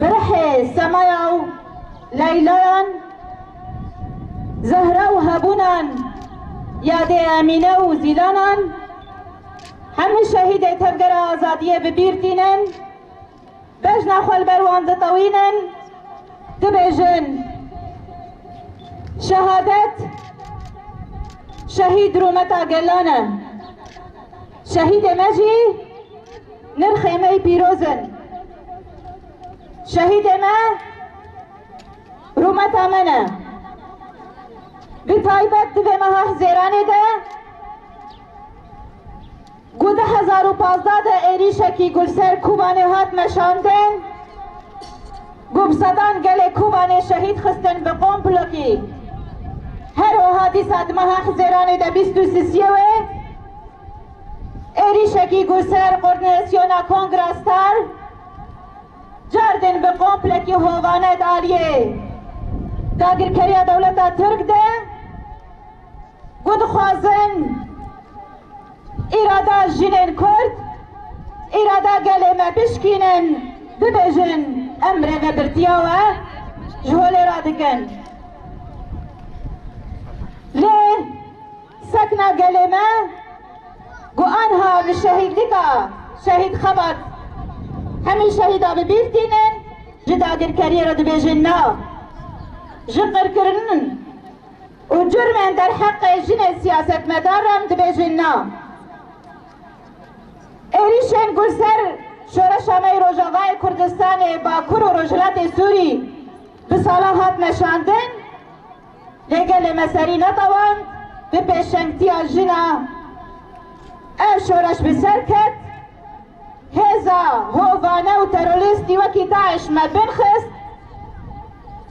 Berhê semaya û leylayan, zehra û hebûnan, yadê Emîne û Zîlanan, hemû şehîdê Tevgera Azadiyê bi bîr tînin, bejna xwe li ber wan ditewînin, dibêjin Şehadet şehîd rûmeta gelan e. Şehîdê me jî. Nirxê me yê pîroz in. Şehîdê me rûmeta me ne. Bi taybet di vê meha hizêranê de ku du hezar û pazdeh de êrîşekî ku li ser Kobanê hat meşandin ku bi sedan gelê Kobanê şehîd xistin bi komplokî her wiha dîsa di meha hizêranê de bîst û sisiyê wê Êrîşekî ku ser Qorneesyona Kongra Star Cerdin bi komplekî hovane daliyê dagirkeriya dewleta Tirk de ku dixwazin îrada jinên Kurd, îrada gelê me bişkînin bibêjin em rêvebirtiya we ji holê radikin. Lê. Sekna gelê me ku anha bi şehîdlika Şehîd Xebat hemî şehîda bi bîr tînin, ji dagirkeriyê re dibêjin na, ji qirkirinin û curmên derheqê jinê siyasetmedar re dibêjin na. Êrîşên ku ser Şoreşa me yê Rojavayê Kurdistanê, Bakur û Rojhilatê Sûrî bi salan hatine şandin, Lê gelê me serî netewand bi pêşengtiya jin a ev şoreş bi ser ket. Hêza hovane û terorîstî wekî DAIŞ me bin xist.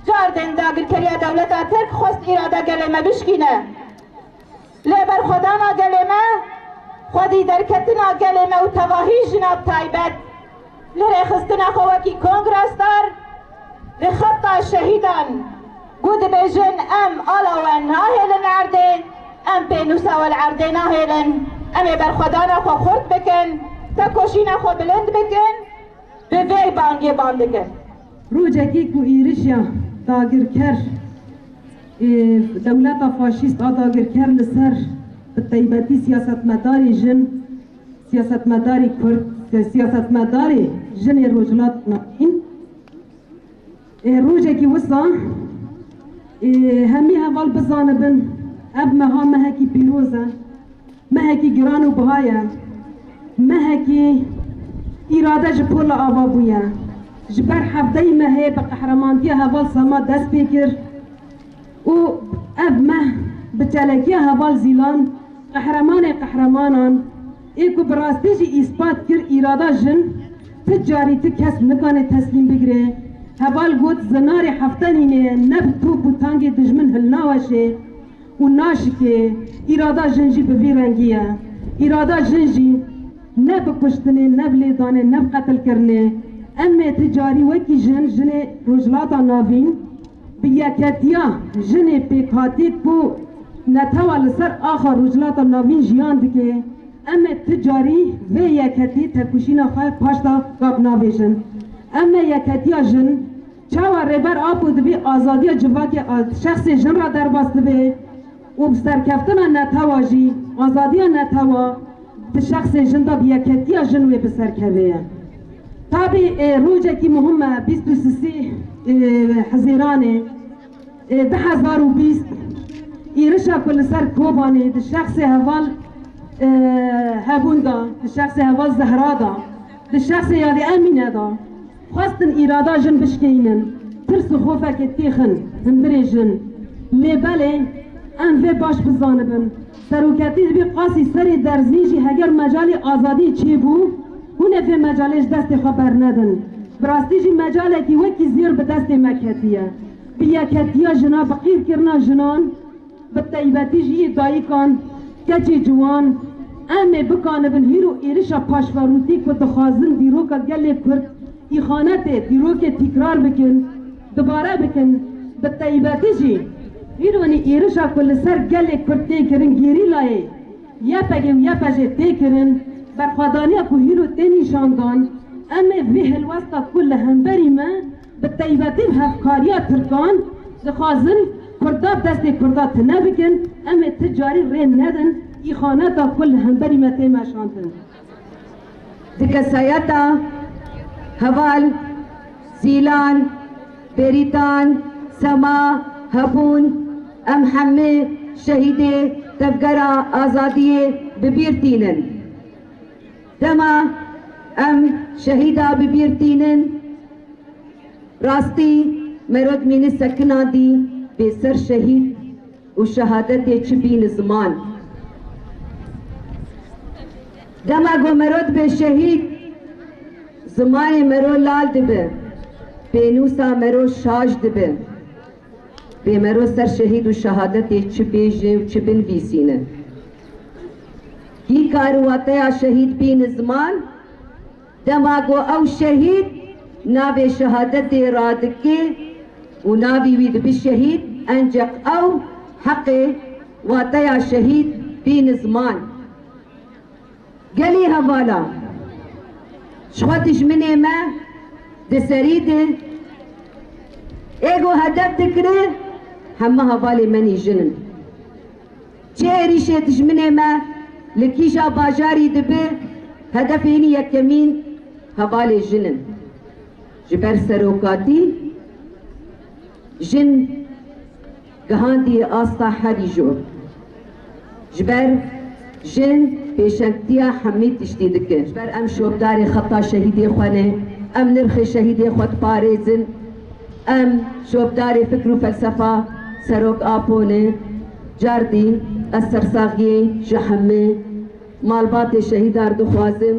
Cardên dagirkeriya dewleta Tirk xwest îrada gelê me bişkîne. Lê berxwedana gelê me, xwedî derketina gelê me û tevahî jina bi taybet li rêxistina xwe wekî kongresdar li xeta şehîdan ku dibêjin em ala we nahêlin erdê, em pênûsa we li erdê nahêlin, em ê berxwedana xwe xurt bikin, tekoşîna xwe bilind bikin, bi vê bangê bang dikin. Rojekî ku êrişa dagirker ê dewleta faşîst a dagirker li ser bi taybetî siyasetmedarê jin, siyasetmedarê kurd, siyasetmedarê jin ê Rojhilatê Navîn ê rojekî wisa ê hemî heval bizanibin ev meha mehekî pîroz e. Mehekî giran û buha ye. Mehekî îrade ji pola ava bûye. Ji ber hevdeyî mehê bi qehremantiya heval Sema dest pê kir û ev meh bi çalakiya heval Zîlan qehremanê qehremanan ê ku bi rastî jî îspat kir îrada jin ti carî ti kes nikane teslîm bigire. Heval got, Zinarê hefta nînê ye ne bi top û tangê dijmin hilnaweşê Û naşikê îrada jin jî bi vî rengî ye. Îrada jin jî ne bi kuştinê, ne bi lêdanê, ne bi qetilkirinê. Em ê ti carî wekî jin, jinê Rojhilata Navîn bi yeketiya jinê pêkhatî ku netewa li ser axa Rojhilata Navîn jiyan dike, em ê ti carî vê yeketî tevkuşîna xwe paşda gap navêjin. Em ê yeketiya jin. Çawa Rêber Apo di vî azadiya civakê a şexsê jin re derbas dibe û bi serkeftina netewa jî azadiya netewa di şexsê jin de bi yekhekiya jin wê bi ser keve ye. Tabî ê rocekî muhim e bîst û sisî Hizîranê du hezar û bîst îrişa ku li ser Kobanê di şexsê heval Hebûn de, di şexsê heval Zehra de, di şexsê Yadî Emîne de, Xwestin îrada jin bişkeyînin, tirs û xofekê têxin himdirê jin. Lê belê em vê baş bizanibin, seroketî dibî qasî serê derzîn jî heger mecalî azadî çêbû, hûn ê vê mecalê ji destê xwe bernedin. Bi rastî jî mecalekî wekî zêr bi destê me ketiye. Bi yeketiya jina bi qîrkirina jinan Bi taybetî jî yê dayikan, keçê ciwan, em ê bikanibin hîr û êrişa paşverûtî ku dixwazin dîroka gelê Kurd, îxanetê dîrokê tîkrar bikin, dubare bikin. Bi taybetî jî îronî êrişa ku li ser gelê Kurd tê kirin gerîlayê YPG'ê û YPJ'ê tê kirin, berxwedaniya ku hîr û tê nîşandan, em ê vê helwesta ku li hemberî me, Bi taybetî bi hevkariya tirkan dixwazin kurda destê kurda tune bikin, em ê ti carî rê nedin îxaneta ku li hemberî me tê meşandin. Di kesayeta heval, sîlan, bêrîtan, sema, hebûn em hemû şehîdê Tevgera Azadiyê bi bîr tînin. Dema em şehîda bi bîr tînin, rastî merod mînî sekina dî bê ser şehîd û şehadetê çi bîni ziman. Dema ku merod bê şehîd, zimanê mero lal dibi, pênûsa mero şaş dibi. Pêmero ser şehîd û şehadetê çi bêjê û çi binvîsîne? Kî kar wateya şehîd bîne ziman? Dema ku ew şehîd navê şehadetê radike û navî wî dibe şehîd, enceq ew heqê wateya şehîd bîne ziman. Gelî hevala ji xwe dijminê me di serî de êgo hedef dikire, heme hevalê me nî jin in. Çi êrîşê dijminê me li kîja bajarî dibe, hedefê hînî yekemîn hevalê jin in. Ji ber serokatî jin. Gihandiye asta herî jû ji ber jin pêşengtiya hemî tiştî dike. Ji ber em şopdarê xeta şehîdê xwe ne, em nirxê şehîdê xwe diparêzin, em şopdarê fikr û felsefa Serok Apo ne. Cardî ez sersaxiyê ji hemî malbatê şehîdan dixwazim.